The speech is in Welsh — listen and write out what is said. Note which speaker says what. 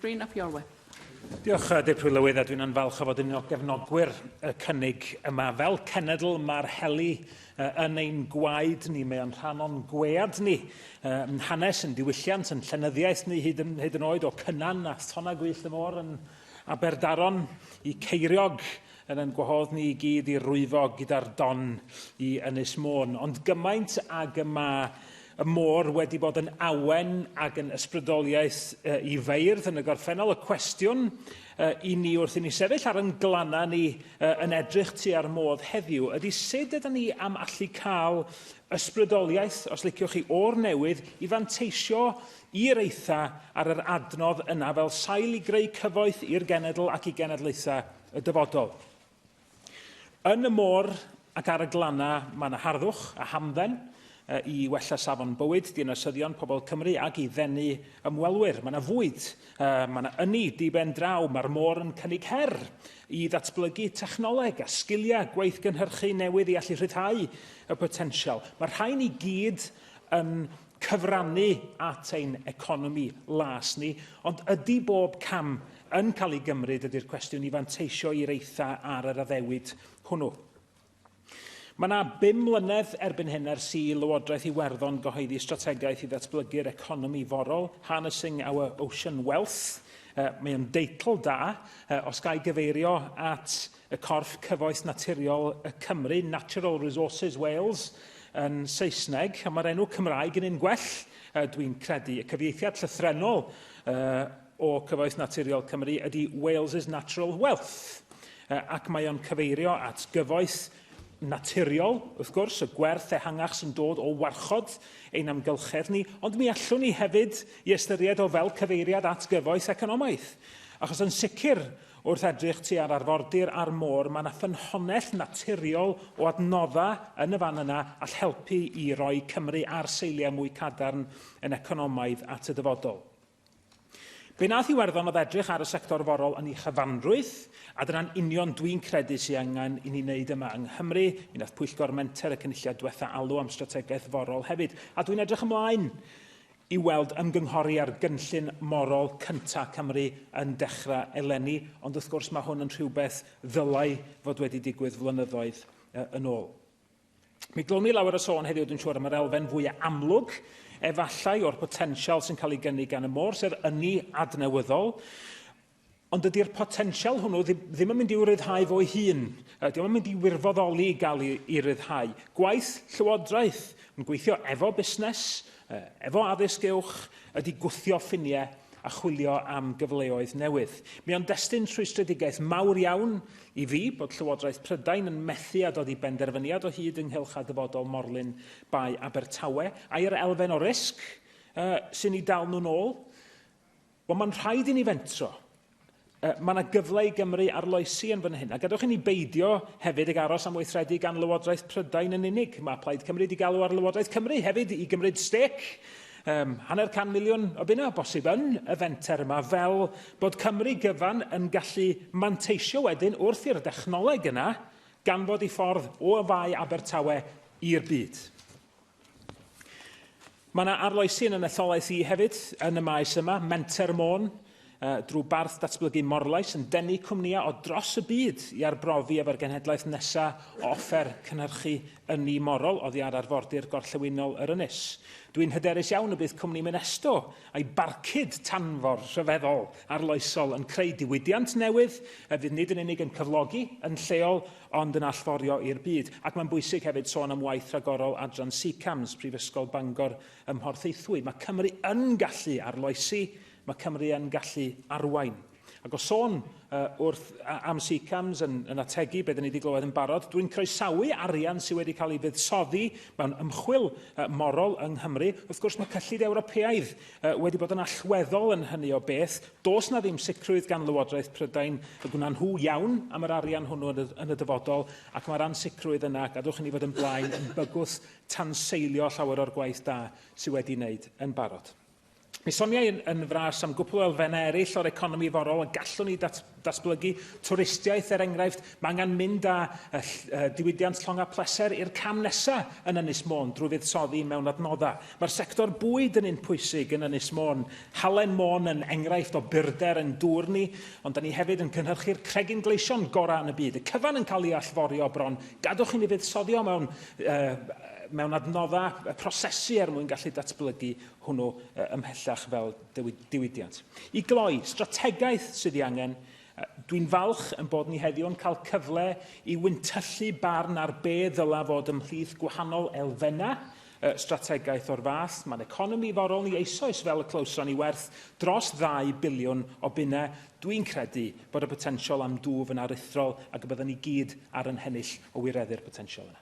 Speaker 1: Rhun ap Iorwerth. Diolch,
Speaker 2: Dirprwy Lywydd, a dwi'n yn falch o fod yn un o gefnogwyr y cynnig yma. Fel cenedl, mae'r heli yn ein gwaed ni, mae o'n rhan o'n gwead ni, yn hanes, yn diwylliant, yn llenyddiaeth ni hyd yn, hyd yn oed o Cynan a Thona Gwyllt y Môr yn Aberdaron i Ceiriog yn ein gwahodd ni i gyd i rwyfo gyda'r don i Ynys Môn. Ond gymaint ag y mae y môr wedi bod yn awen ac yn ysbrydoliaeth uh, i feirdd yn y gorffennol, y cwestiwn uh, i ni wrth i ni sefyll ar yn glannau ni uh, yn edrych tu ar modd heddiw ydy sut ydyn ni am allu cael ysbrydoliaeth, os liciwch chi, o'r newydd i fanteisio i'r eitha ar yr adnodd yna fel sail i greu cyfoeth i'r genedl ac i genedlaethau y dyfodol. Yn y môr ac ar y glannau mae yna harddwch a hamdden i wella safon bywyd dinasyddion pobl Cymru ac i ddenu ymwelwyr. Mae yna fwyd, mae yna ynni diben draw, mae'r môr yn cynnig her i ddatblygu technoleg a sgiliau gweithgynhyrchu newydd i allu rhyddhau y potensial. Mae'r rhain i gyd yn cyfrannu at ein economi las ni, ond ydy bob cam yn cael ei gymryd ydy'r cwestiwn i fanteisio i'r eitha ar yr addewid hwnnw. Mae yna bum mlynedd erbyn hyn ers i Lywodraeth Iwerddon gyhoeddi strategaeth i ddatblygu'r economi forol, Harnessing Our Ocean Wealth. Uh, mae o'n deitl da, uh, os gael gyfeirio at y corff cyfoeth naturiol y Cymru, Natural Resources Wales, yn Saesneg, a mae'r enw Cymraeg yn un gwell, uh, dwi'n credu. Y cyfieithiad llythrenol uh, o Cyfoeth Naturiol Cymru ydy Wales' Natural Wealth, uh, ac mae o'n cyfeirio at gyfoeth naturiol, wrth gwrs, y gwerth ehangach sy'n dod o warchod ein amgylchedd ni, ond mi allwn ni hefyd i ystyried o fel cyfeiriad at gyfoeth economaidd. Achos yn sicr, Wrth edrych tua'r arfordir a'r môr, mae 'na ffynhonnell naturiol o adnodda yn y fan yna all helpu i roi Cymru ar seiliau mwy cadarn yn economaidd at y dyfodol. Be nath Iwerddon oedd edrych ar y sector forol yn ei chyfanrwydd, a dyna'n union dwi'n credu sy angen i ni wneud yma yng Nghymru. Mi nath Pwyllgor Menter y Cynulliad dwetha alw am strategaeth forol hefyd, a dwi'n edrych ymlaen i weld ymgynghori ar gynllun morol cyntaf Cymru yn dechrau eleni, ond wrth gwrs mae hwn yn rhywbeth ddylai fod wedi digwydd flynyddoedd yn ôl. Mi glwn ni lawer o sôn heddiw, dwi'n siŵr, am yr elfen fwyaf amlwg, efallai, o'r potensial sy'n cael ei gynnig gan y môr, sef ynni adnewyddol. Ond dydy'r potensial hwnnw ddim, ddim yn mynd i'w ryddhau fo'i hun. Uh, Diolch yn mynd i wirfoddoli i gael ei ryddhau. Gwaith llywodraeth yn gweithio efo busnes, uh, efo addysg uwch, ydy gwthio ffiniau a chwilio am gyfleoedd newydd. Mi o'n destun rhwystredigaeth mawr iawn i fi bod Llywodraeth Prydain yn methu a dod i benderfyniad o hyd ynghylch a dyfodol morlun Bae Abertawe, a'r elfen o risg uh, sy'n ei dal nhw'n ôl. Wel, mae'n rhaid i ni fentro. Uh, mae yna gyfle i Gymru arloesi yn fan hyn. A gadwch i ni beidio hefyd ag aros am weithredu gan Lywodraeth Prydain yn unig. Mae Plaid Cymru wedi galw ar Lywodraeth Cymru hefyd i gymryd stec um, hanner can miliwn o bunna o bosib yn y fenter yma fel bod Cymru gyfan yn gallu manteisio wedyn wrth i'r dechnoleg yna ganfod i ffordd o fai Abertawe i'r byd. Mae yna arloesi yn y netholaeth i hefyd yn y maes yma, Menter Môn, drwy barth datblygu Morlais yn denu cwmnïau o dros y byd i arbrofi efo'r genhedlaeth nesa o offer cynhyrchu ynni morol oddi ar arfordir gorllewinol yr ynys. Dwi'n hyderus iawn y bydd cwmni Minesto a'i barcud tanfor rhyfeddol arloesol yn creu diwydiant newydd a fydd nid yn unig yn cyflogi yn lleol ond yn allforio i'r byd. Ac mae'n bwysig hefyd sôn am waith rhagorol Adran CCAMS, Prifysgol Bangor ym Mhorthaethwy. Mae Cymru yn gallu arloesi, mae Cymru yn gallu arwain. Ac o sôn uh, wrth am CCAMS yn, yn ategu beth ni wedi glywed yn barod, dwi'n croesawu arian sydd wedi cael ei fuddsoddi mewn ymchwil uh, morol yng Nghymru. Wrth gwrs mae cyllid Ewropeaidd uh, wedi bod yn allweddol yn hynny o beth. Does na ddim sicrwydd gan Lywodraeth Prydain y gwna nhw iawn am yr arian hwnnw yn y, yn y dyfodol, ac mae'r ansicrwydd yna, gadwch i ni fod yn blaen, yn bygwth tanseilio llawer o'r gwaith da sydd wedi wneud yn barod. Mi soniai yn, yn fras am gwpl o elfennau eraill o'r economi forol y gallwn ni dat, Datblygu twristiaeth, er enghraifft, mae angen mynd â diwydiant llong a pleser i'r cam nesa yn Ynys Môn drwy fuddsoddi mewn adnoddau. Mae'r sector bwyd yn un pwysig yn Ynys Môn. Halen Môn yn enghraifft o byrder ein dŵr ni, ond da ni hefyd yn cynhyrchu'r cregyn gleision gorau yn y byd. Y cyfan yn cael ei allforio bron. Gadwch i ni fuddsoddio mewn, mewn adnoddau prosesu er mwyn gallu datblygu hwnnw ymhellach fel diwydiant. I gloi, strategaeth sydd ei angen. Dwi'n falch yn bod ni heddiw yn cael cyfle i wyntyllu barn ar be ddyla fod ymhlith gwahanol elfennau strategaeth o'r fath. Mae'n economi forol ni eisoes fel y clywson ni werth dros 2 biliwn o bunnau. Dwi'n credu bod y potensial am dwf yn aruthrol ac y byddwn ni gyd ar yn hennill o wireddu'r potensial yna.